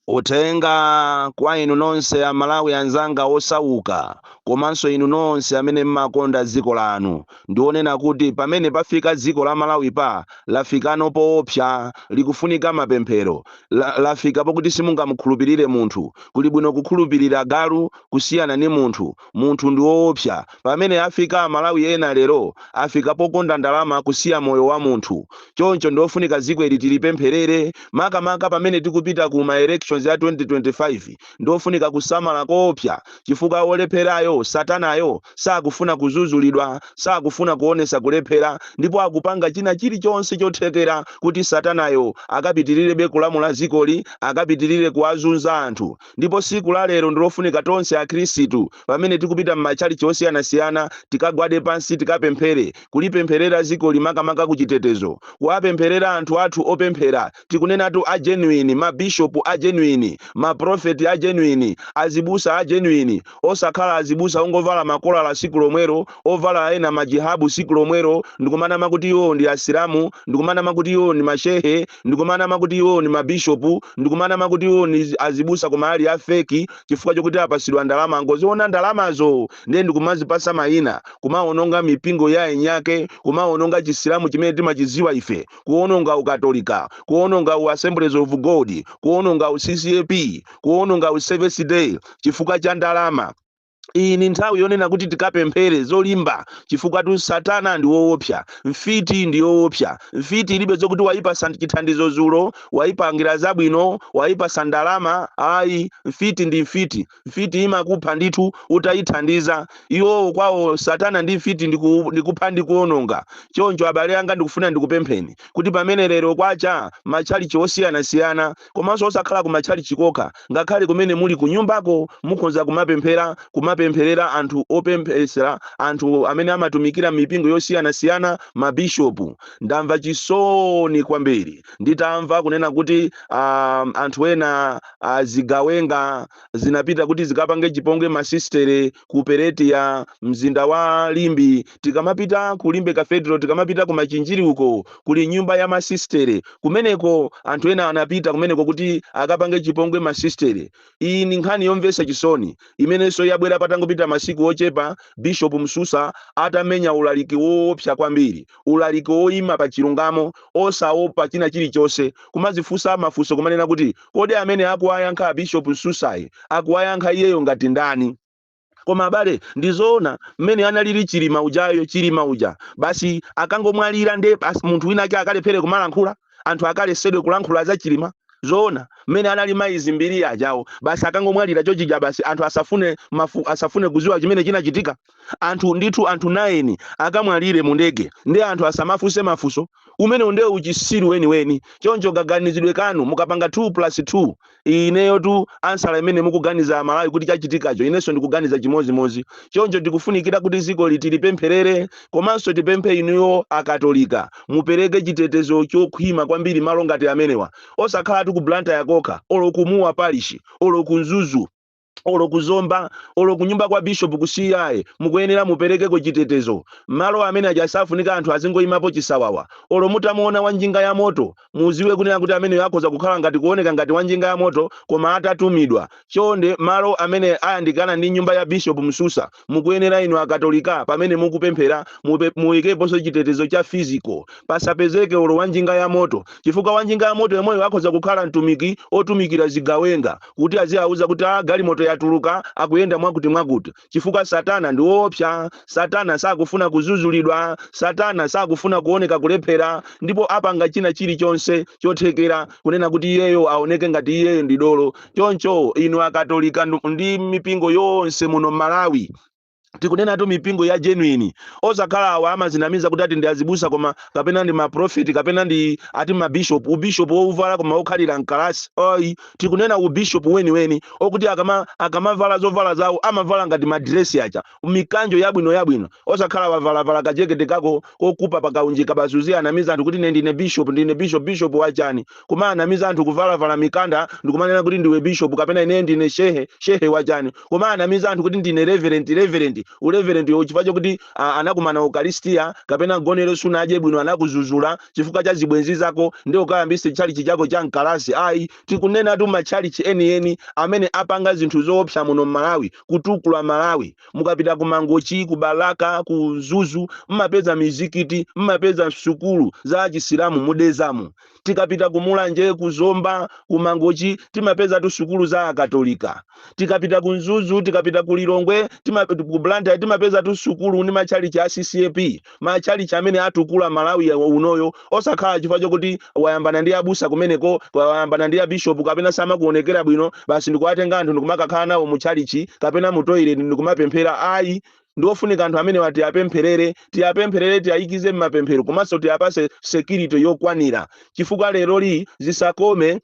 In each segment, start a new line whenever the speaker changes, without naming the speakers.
Uthenga kwa inu nonse a Malawi anzanga osauka komanso inu nonse amene mmakonda dziko lanu ndi onena kuti pamene pafika dziko la Malawi lafikano poopsa likufunika mapemphero, la lafika pokuti simungamukhulupilire munthu, kuli bwino kukhulupilira galu kusiyana ndi munthu. Munthu ndi oopsa pamene afika amalawi ena lero afika pokonda ndalama kusiya moyo wa munthu choncho ndiofunika ziko ili tilipempherere makamaka pamene tikupita ku ma elections ya 2025 ndiofunika kusamala koopsa chifukwa olepherayo satanayo sakufuna kuzuzulidwa sakufuna kuonesa kulephera ndipo akupanga china chilichonse chothekera kuti satanayo akapitilirebe kulamula zikoli akapitilire kuwazunza anthu Ndipo siku la lero ndilofunika tonse akhristu pamene tikupita mmatchalitchi osiyanasiyana tikagwade pansi tikapemphere, kulipempherera zikoli makamaka ku chitetezo, kuwapempherera anthu athu opemphera tikunenatu a genuine, ma bishop a genuine, ma prophet a genuine, azibusa a genuine osakhala azibusa ongovala makolala siku lomwero, ovala ena ma jihabu siku lomwero ndikumanama kuti iwo ndi asilamu ndikumanama kuti iwo ndi ma shehe. ndikumanama kuti iwo ndi ma bishopu ndikumanama kuti iwo ndi azibusa koma ali a fake chifukwa chokuti apasidwa ndalama angoziona ndalamazo ndiye ndikumazipasa mayina kumawononga mipingo ya eniake kumawononga chisilamu chimene timachiziwa ife kuwononga ukatolika kuwononga u assemblies of god kuwononga u ccap kuwononga u seventh day chifukwa cha ndalama iyi ni nthawi yonena kuti tikapemphere zolimba chifukwatu satana ndi woopsa mfiti ndi yoopsa mfiti ilibe zokuti wayipasa chithandizo zulo wayipangira zabwino wayipasa ndalama ayi mfiti ndi mfiti mfiti imakupha ndithu utayithandiza iwowo kwawo satana ndi mfiti ndikupha ndi kuononga choncho abale anga ndikufuna ndikupempheni kuti pamene lero kwacha matchalichi osiyanasiyana komanso osakhala ku matchalitchi kokha, ngakhale kumene muli kunyumbako mukhonza kumapemphera, kumapempherera anthu opempheretsa anthu amene amatumikira m'mipingo yosiyanasiyana, mabishopu. Ndamva chisoni kwambiri nditamva kunena kuti a anthu ena zigawenga zinapita kuti zikapange chipongwe masisitere ku Peretia, mzinda wa Limbe, Tikamapita ku Limbe Cathedral, tikamapita ku Machinjiri uko, kuli nyumba ya masisitere kumeneko. Anthu ena anapita kumeneko kuti akapange chipongwe masisitere. Iyi ndi nkhani yomvetsa chisoni imenenso yabwera patangopita masiku ochepa Bishopu Msusa atamenya ulaliki woopsa kwambiri, ulaliki woima pa chilungamo, osaopa china chilichonse, kumadzifunsa mafunso, kumanena kuti, Kodi amene akuwayankha a Bishopu Msusayi akuwayankha iyeyo ngati ndani? koma abale ndizoona mmene analili chilima ujayo chilima uja basi akangomwalira nde basi munthu wina ake akalephere kumalankhula anthu akalesedwe kulankhula za chilima zoona mmene analili mai mbiri ajawo basi akangomwalira chochija basi anthu asafune mafu, asafune kuziwa chimene chinachitika anthu ndithu anthu 9 akamwalire mu ndege nde anthu asamafunse mafunso umenewu ndiye uchisiru weniweni choncho kaganizidwe kanu mukapanga 2 plus 2 ineyotu ansala imene mukuganiza amalawi kuti chachitikacho inenso ndikuganiza chimozimozi choncho tikufunikira kuti dziko lithu tilipempherere komanso tipemphe inuyo akatolika mupereke chitetezo chokhwima kwambiri malo ngati amenewa osakhala tu ku blantyre yakokha olo ku mua parishi olo ku mzuzu olo ku zomba olo kunyumba kwa bishop kusiyaye mukuyenera muperekeko chitetezo malo amene aja sakufunika anthu azingoyimapo chisawawa olo mutamuona wa njinga ya moto muziwe kunena kuti ameneyo akhoza kukhala ngati kuoneka ngati wa njinga ya moto koma atatumidwa chonde malo amene ayandikana ndi nyumba ya bishop msusa mukuyenera inu akatolika pamene mukupemphera mupe- muyikeponso chitetezo cha physical pasapezeke olo wanjinga ya moto chifukwa wanjinga ya moto yemweyo akhoza kukhala mtumiki otumikira zigawenga kuti aziwauza kuti a galimoto yatuluka akuyenda mwakuti mwakuti chifukwa satana ndi woopsa satana sakufuna kuzuzulidwa satana sakufuna kuoneka kulephera ndipo apanga china chilichonse chothekera kunena kuti iyeyo aoneke ngati iyeyo ndi dolo choncho inu akatolika ndu- ndi mipingo yonse muno m'malawi tikunenatu mipingo ya genuine osakhala awa amazinamiza kuti ati ndi azibusa koma kapena ndi maprofeti kapena ndi ati mabishop ubishop wouvala koma wokhalira mkalasi ayi tikunena ubishop weniweni okuti akama akamavala zovala zawo amavala ngati madiresi aja mikanjo yabwino yabwino osakhala wavalavala kajekete kako kogula pakaunjika basi uziyanamiza anthu kuti ine ndine bishop ndine bishop bishop wachani kumayanamiza anthu kuvalavala mikanda ndikumanena kuti ndiwe bishop kapena ine ndine shehe shehe wachani kumayanamiza anthu kuti ndine reverend reverend ureverend wo chifukwa chokuti ah, anakukana ukalistia kapena gonero sunadye bwino anakuzuzula chifukwa cha zibwenzi zako ndi ukayambise tchalichi chako cha mkalasi ayi tikunenatu matchalichi enieni amene apanga zinthu zoopsa muno mmalawi kutukula malawi mukapita ku mangochi ku balaka ku mzuzu mmapeza mizikiti mmapeza sukulu za achisilamu mu dedzamu tikapita ku mulanje ku zomba ku mangochi timapezatu sukulu za akatolika tikapita ku mzuzu tikapita ku lilongwe tima, ku blantyre timapezatu sukulu ndi matchalichi a ccap machalichi amene atukula malawi ya- unoyo osakhala chifukwa chokuti wayambana ndi abusa kumeneko kwa- wayambana ndi abishopu kapena samakuonekera bwino basi ndikuwatenga anthu ndikumakakhala nawo mu chalichi kapena mu toilet ndikumapemphera ayi ndiofunika anthu amenewa tiyapempherere tiyapempherere tiyayikize mmapemphero komanso tiyapase security yokwanira chifukwa leroli zisakome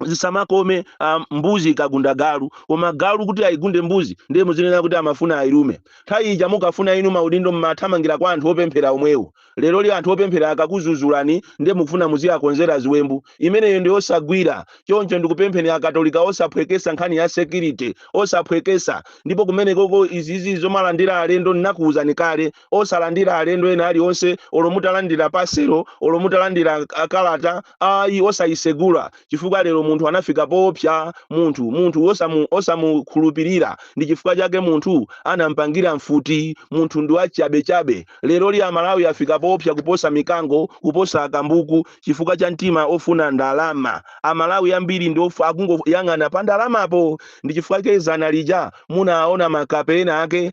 zisamakome ah, mbuzi ikagunda galu koma galu kuti ayigunde mbuzi ndiye muzinena kuti amafuna ayilume nthawi ija mukafuna inu maudindo mmathamangira kwa anthu opemphera omwewo leroli anthu opemphera akakuzuzulani ndiye mukufuna muziyakonzera ziwembu imeneyo ndi yosagwira choncho ndikupempheni akatolika osaphwekesa nkhani ya security osaphwekesa ndipo kumeneko izizi zomalandira alendo ndinakuwuzani kale osalandira alendo ena alionse olo mutalandira pasero olo mutalandira kalata Ayi, osayisegula, chifukwa lero munthu anafika powopsya, munthu, munthu wosamukhulupirira. Ndi chifukwa chake munthu anampangira mfuti, munthu ndi wachabechabe. Leroli a Malawi afika powopsya kuposa mikango, kuposa akambuku, chifukwa cha mtima ofuna ndalama. A Malawi ambiri ndi of, akungoyang'ana pa ndalamapo! Ndi chifukwa chake zana lija munawaona makape ena ake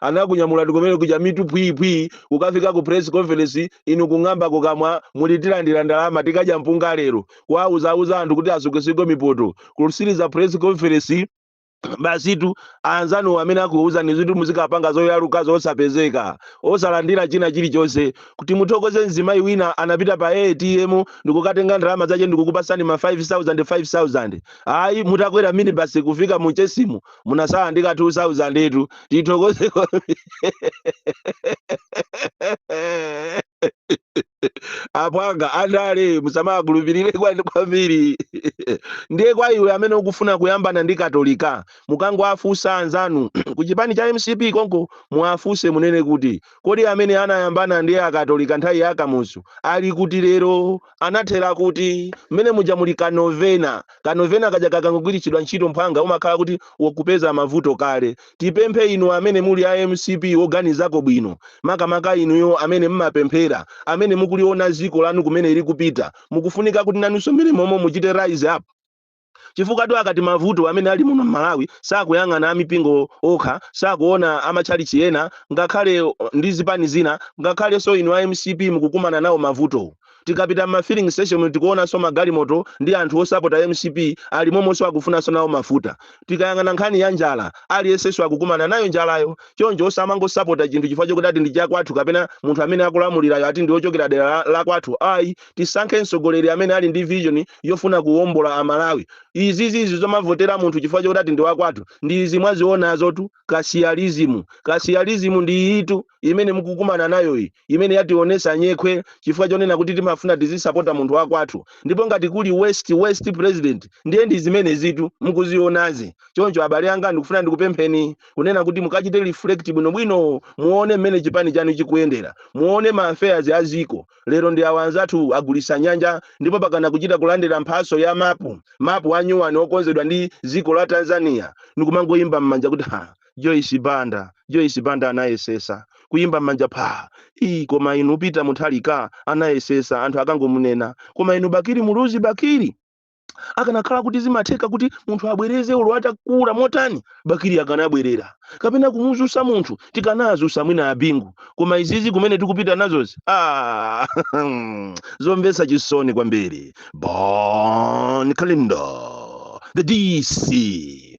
Anakunyamulani kumene kuja mitu phwii phwii kukafika ku press conference inu kung'amba kukamwa muli tilandira ndalama tikadya mpunga lero. Kuwauza uza anthu kuti asukeseko mipoto. Kusiliza press conference basitu anzanuwo amene akuuzani zoti muzikapanga zoyalukazo osapezeka osalandira china chilichonse kuti muthokoze mzimayi wina anapita pa atm ndikukatenga ndalama zache ndikukupasani ma 5000 5000 ayi mutakwera minibasi kufika mu chesimu munasala ndi ka 2000 itu tithokoze apwanga andale musamaakhulupirire kwambiri ndiye kwa iwe amene ukufuna kuyambana ndi katolika mukangoafunsa anzanu ku chipani cha mcp konko muafunse munene kuti kodi amene anayambana ndi akatolika nthawi ya kamuzu ali kuti lero anathera kuti, mmene muja muli ka novena. Ka novena kaja kakangogwiritsidwa ntchito mphwanga umakhala kuti wakupeza mavuto kale. Tipemphe inu amene muli a mcp woganizako bwino, makamaka inuyo amene mmapemphera, amene mukuliona ziko lanu kumene lili kupita, mukufunika kuti nanunso mmene momo muchite rise up. chifukwatu akati mavuto amene ali muno m'Malawi sakuyang'ana amipingo okha, sakuona amatchalitchi ena ngakhale ndi zipani zina ngakhalenso inu a mcp mukukumana nawo mavuto. Tikapita m'ma filling station tikuonanso magalimoto ndi anthu osapota mcp ali momonso akufunanso nawo mafuta. Tikayang'ana nkhani ya njala, aliyensenso akukumana nayo njalayo. Choncho osamangosapota chinthu chifukwa chokuti ati ndi chakwathu kapena munthu amene akulamulirayo ati ndi wochokera dera lakwathu ayi. tisankhe mtsogoleri amene ali ndi vision yofuna kuwombola amalawi izizi izi zomavotera munthu chifukwa chokuti ati ndi wakwathu ndi izi mwazionazotu kasiyalizimu kasiyalizimu ndi iyitu imene mukukumana nayo iyi imene yationesa nyekhwe chifukwa chonena kuti timafuna tizisapota munthu wakwathu ndipo ngati kuli worst worst president ndiye ndi zimenezitu mukuzionazi choncho abale anga ndikufuna ndikupempheni kunena kuti mukachite reflect bwinobwino muone mmene chipani chanu chikuyendera muone ma affairs a ziko Lero ndi awa nzathu agulisa nyanja ndipo pakana kuchita kulandira mphatso ya mapu mapu a nyuwani okonzedwa ndi ziko la Tanzania ndikumangoyimba mmanja kuti ha Joyce Banda Joyce Banda anayesesa kuyimba mmanja phaa ii koma inu Peter Mutharika anayesesa anthu akangomunena koma inu Bakili Muluzi Bakili akanakhala kuti zimatheka kuti munthu abwereze ulo atakula motani bakili akanabwerera kapena kumuzusa munthu tikanazusa mwina a Bingu koma izizi kumene tikupita nazozi ah, zomvetsa chisoni kwambiri Bon Kalindo the DC